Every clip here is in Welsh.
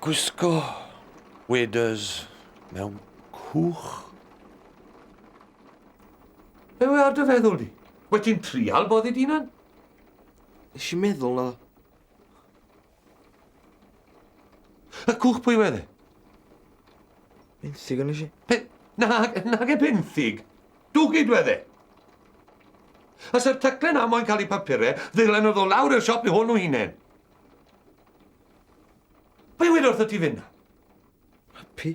Gwisgo waders mewn cwch. Be we ar dy feddwl di? Wyt ti'n trial boddi dy hunan? Nes i meddwl na. Y cwch pwy wedd e? Benthyg yn eisiau. Pe... Na, nag e benthyg. Dwgyd wedd e. A sy'r taclen na moyn cael ei papurau, ddylen o ddod lawr i'r siop i hwn o hunain. Pwy wedi wrth y ti fyna? Happy.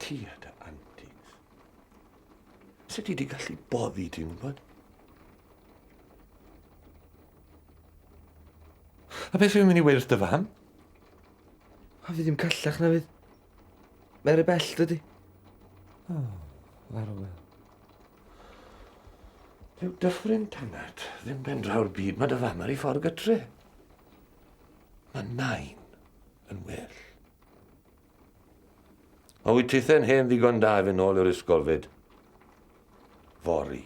Ti a dy antis. Sut ti di gallu boddi, ti'n gwybod? A beth fi'n mynd i weirth dy fam? A fi ddim callach na fydd. Mae'r y bell dydy. O, oh, farwel. Dyw dyffryn tanat ddim ben draw'r byd mae dy fam ar ei ffordd gytre. Mae nain yn well. A wyt tithen hen ddigon da i fy nôl i'r ysgol fyd? Fori.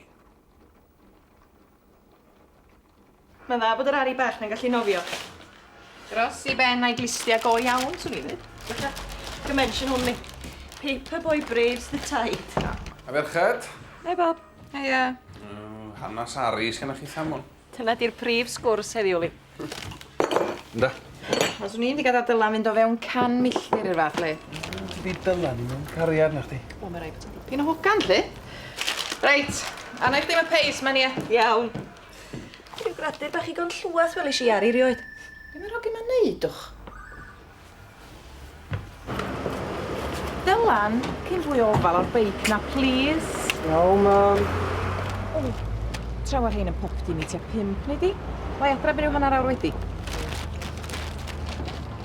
Mae'n dda bod yr ari bach na'n gallu nofio. Gros i ben a'i glistia go iawn, swn i ddweud. Fatha, dimension only. Paper boy braves the tide. A merched? Hei, Bob. Heia. Hanas ari sgenna chi, Samwn? Dyna di'r prif sgwrs heddiw, Lee. Ynda? Os o'n i'n digad â Dylan fynd o fewn can milltir i'r fath le. Dydi Dylan ddim yn cariad na chdi. Wel, mae rhaid bod o'n dipyn o hogan, Lee. Reit, arna i chdi am y peis, man ia. Iawn. Rhyw gradur bach igon llweth welish i ar i rioed. Be' ma'r ogyn ma'n neud, dwch? Dylan, cyn fwy o ofal o'r beic na plîs. Iawn, mam. O, tra mae'r rhain yn popty i mi tua pump, neu di? Lai adra byn i'w hanner awr wedi.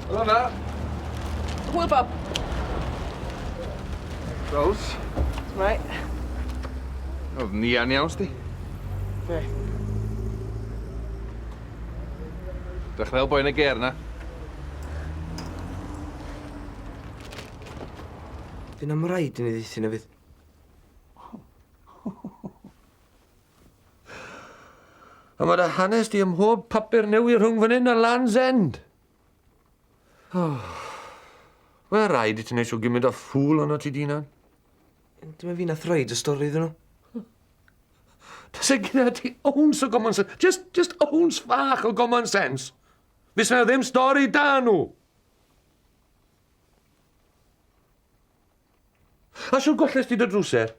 Helo, ma. Hwyl, Bob. Rose. Mai. Oedd Nian iawn, sti? Be? Dech fel boi yn y ger na. Fy na mraid yn ei ddeithin efyd. A mae dy hanes di ym mhob papur newi rhwng fan hyn a Land's End. Oh. Wel, rhaid i ti wneud siw gymryd o ffwl ond o ti dinan. Dyma fi nath roed y stori iddyn nhw. Tase gyda ti owns o common sense. Just, just owns fach o common sense. Fes na ddim stori da nhw. A siwr golles ti dy drwser?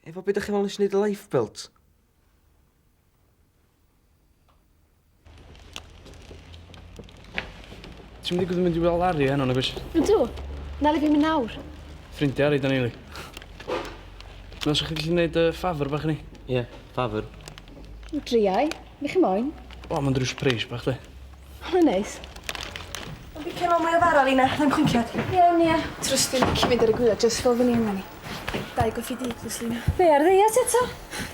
Efo be' dach chi'n me'wl nes i neud y lifebelt? Ti'm yn mynd i weld Larry heno nagwyt? Ydw. Nali fi myn' nawr. Ffrindia Ari 'dan ni yli. Me'wl sa chi gallu neud yy favour bach i ni? Ie, favour. Driai. Be' chi moyn? Wel ma'n drws preis bach de. Mae'n neis. Ond fi cefo mwy o fara, Lina. Mae'n cwnciad. Iawn, Nia. Trwsti, lici mynd ar y gwylia, just fel fy ni yma ni. Dau goffi di, plîs, Lina. Fe ar ddeiet eto?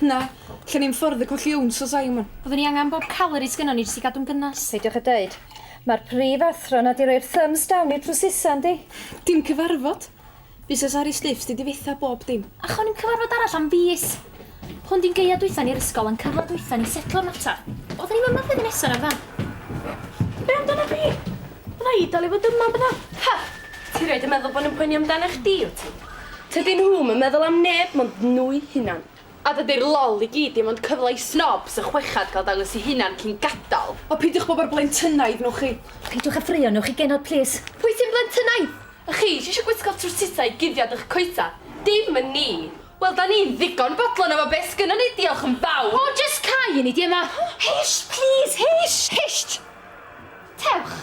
Na. Lle ni'n ffwrdd y colli owns o Simon. Fyddwn ni angen bob calorie sgynnon ni jyst i gadw'n gynnes. Peidiwch â deud. Mae'r prif athro 'na 'di rhoi'r thumbs down i'r drwsisa, yndi? Dim cyfarfod. Busnes ar ei stiff sti difetha bob dim. Ac o'n i'm cyfarfod arall am fis. Hwn di'n gaead dwytha ni i'r ysgol a'n cyfle dwytha ni setlo'r mater. Odda ni'm yma flwyddyn nesa na'r fan? Be amdana fi? Fydda i dal i fod yma bydda? Ha! Ti rioed yn meddwl bo' nw'n poeni amdanach chdi wt ti? Tydyn nhw'm yn meddwl am neb mond nhw'u hunan. A dydy'r lol i gyd ddim ond cyfle i snobs y chwechad gael dangos eu hunan cyn gadal. O peidiwch bod mor blentynnaidd, newch chi? Peidiwch a ffraeo, newch chi genod plîs? Pwy sy'n blentynnaidd? A chi sy eisiau gwisgo trwsisau i guddiad eich coesau? Dim yn ni! Wel, 'da ni'n ddigon bodlon efo be' sgynnon ni, diolch yn fawr! O, jyst cau i ni, di yma! Hisht, plîs, hisht! Hisht! Tewch!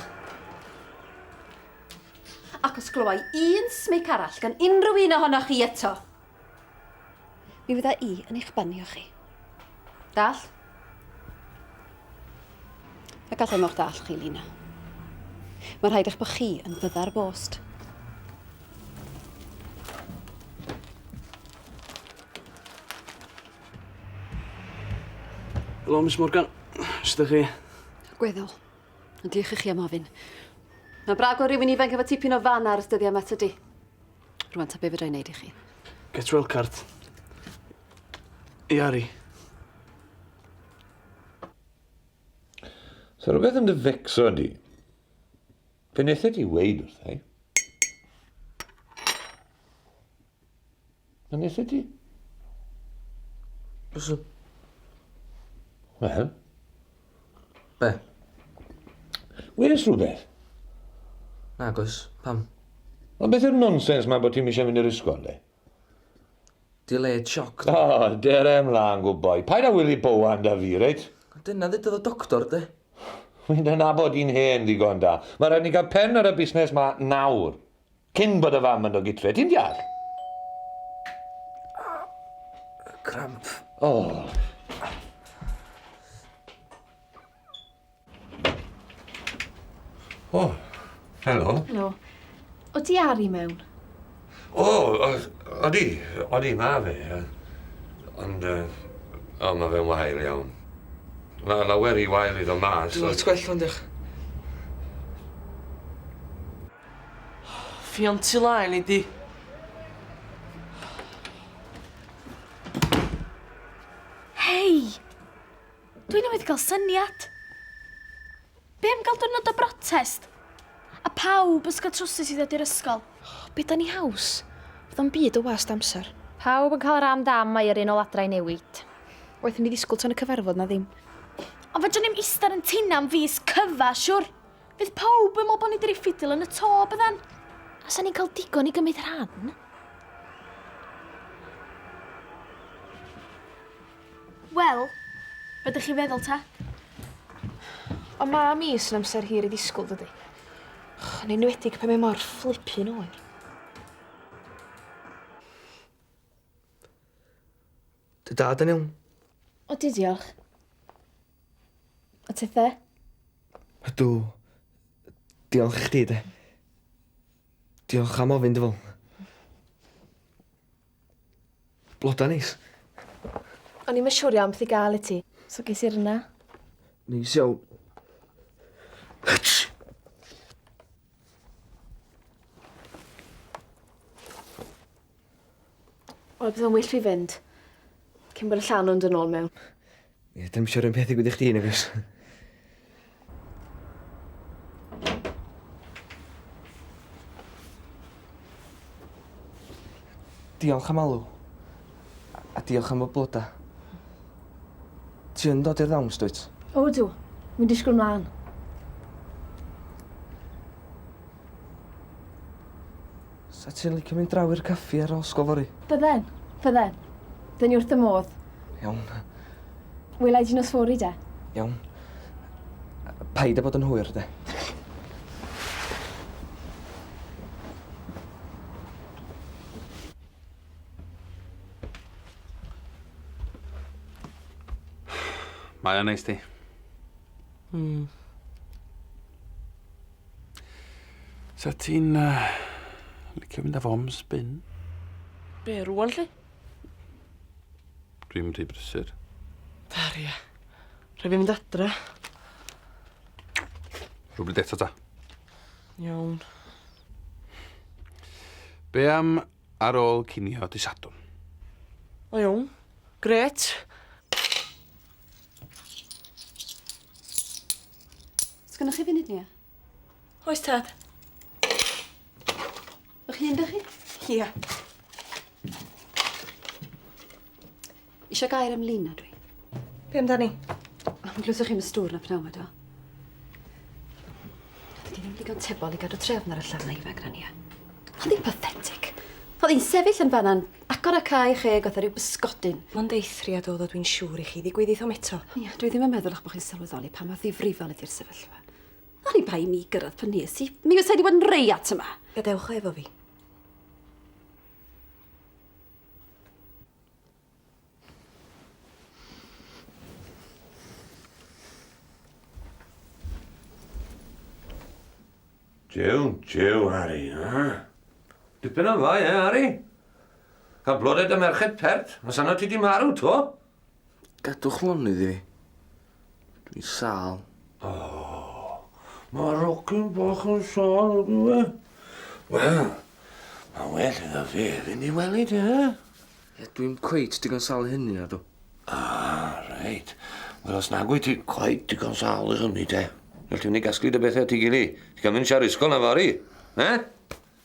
Ac os glywai un smic arall gan unrhyw un ohonoch chi eto, Mi fydda i yn eich banio chi. Dall? A gallai mo'ch dall chi, Lina. Mae rhaid eich bod chi yn fydda'r bost. Helo, Miss Morgan. Sut ydych chi? Gweddol. Ond diolch i chi am ofyn. Mae'n brag o rywun ifanc efo tipyn o fan ar dyddiau yma, tydi? Rwan ta be fedra i neud i chi? Get well cart. Iari. So rhywbeth yn dy fecso di. Fe nethe ti weid wrth ei. Fe nethe ti? Byswn. Wel. Be? Wnes rhywbeth? Nagos, pam? Ond beth yw'r nonsens ma bod ti'n eisiau mynd i'r ysgol, de? Di le sioc. O, oh, dere ymlaen, good boy. Paid a wylio bowan da fi, reit? Dyna ddedodd y doctor, de? Mae'n dy nabod i'n hen ddigon da. Mae rhaid ni gael pen ar y busnes ma nawr. Cyn bod y fam yn ogi tre, ti'n deall? Cramp. O! O, helo. Helo. O ti ar i mewn? O, odi, odi, ma fe. Ond, o, ma fe'n wael iawn. Mae lawer i wael iddo mas. Dwi'n gwell ond eich. Ffion tu laen i di. Hei! Dwi newydd gael syniad. Be am gael dwrnod o brotest? A pawb ysgol trwsus i ddod i'r ysgol. Be da ni haws? Fydd o'n byd o wast amser. Pawb yn cael yr am dam mae yr un ol adra i newid. Waeth i mi ddisgwl tan y cyfarfod na ddim. Ond fedrwn ni'm ista'r yn tina am fis cyfa, siwr? Fydd pawb yn meddwl bod ni wedi rhoi ffidil yn y to, byddan? A sa'n ni'n cael digon i gymryd rhan? Wel, be dych chi'n feddwl ta? O ma mi sy'n amser hir i ddisgwyl, dydy. Yn enwedig pe mae mor fflipi'n oer. Dy dad yn iawn? Odi diolch. A ti the? Ydw. Diolch i chdi de. Diolch am ofyn dy fol. Bloda neis. O'n i'm yn siŵr iawn beth i gael i ti, so ges i'r yna. Neis iawn. Wel, bydd o'n well fi fynd. Cyn bod y llan o'n dyn ôl mewn. Ie, dim siwr yn peth i gwydych chdi, Nefys. Diolch am alw. A diolch am y bloda. Ti yn dod i'r ddawns, dwyt? O, ydw. Wi'n disgwyl mlaen. Sa ti'n licio mynd draw i'r caffi ar ôl sgol fory? Bydden. Bydden. Dyn ni wrth y modd. Iawn. Wela i ti nos fory, de. Iawn. Paid â bod yn hwyr, de. Mae o'n neis ti. Mm. Sa ti'n uh, licio mynd â fo am spin? Be, rwan lle? Dwi'n mynd i brysur. Dar, ia. Rhaid fi mynd adra. Rhywbryd eto ta. Iawn. Be am Ar ôl cinio dy Sadwrn. O iawn. Grêt. Sgynnoch chi funud, Nia? Oes tad. O'ch hun 'da chi? Ia. Isio gair ymlun na dwi? Be amdani? Am glywsoch chi'n y stŵr na pnawn eto? Dydy ddim digon tebol i gadw trefn ar y llafna ifanc na ni. Oedd hi'n pathetic. Oedd hi'n sefyll yn fanna'n agor y cae cheg oedd rhyw bysgodyn. Mae'n deithriad oedd o dwi'n siŵr i chi ddigwydd ithom eto. Ia, dwi ddim yn meddwl eich bod chi'n sylweddoli pa mor ddifrifol ydy'r sefyllfa. O'n i'n bai mi gyrraedd pan nes i. Mi fysa i wedi bod yn reiat yma. Gadewch o efo fi. Jiw, jiw, Harry, ha? Dipyn o'n dda, ie, Harry? Cael blodau dy merched pert, os anna ti di marw, to? Gadwch lonydd i fi. Dwi sal. Oh, mae rocyn bach yn sal o dwi. Wel, mae well iddo fe fynd i wely de. Ie, dwi'n cweit digon sal i hynny na dw. Ah, reit. Wel, os nag wyt ti cweit digon sal i hynny de. Wel, ti'n mynd i gasglu dy bethau at ei gili. Ti'n cael mynd siar ysgol na fori. Ne?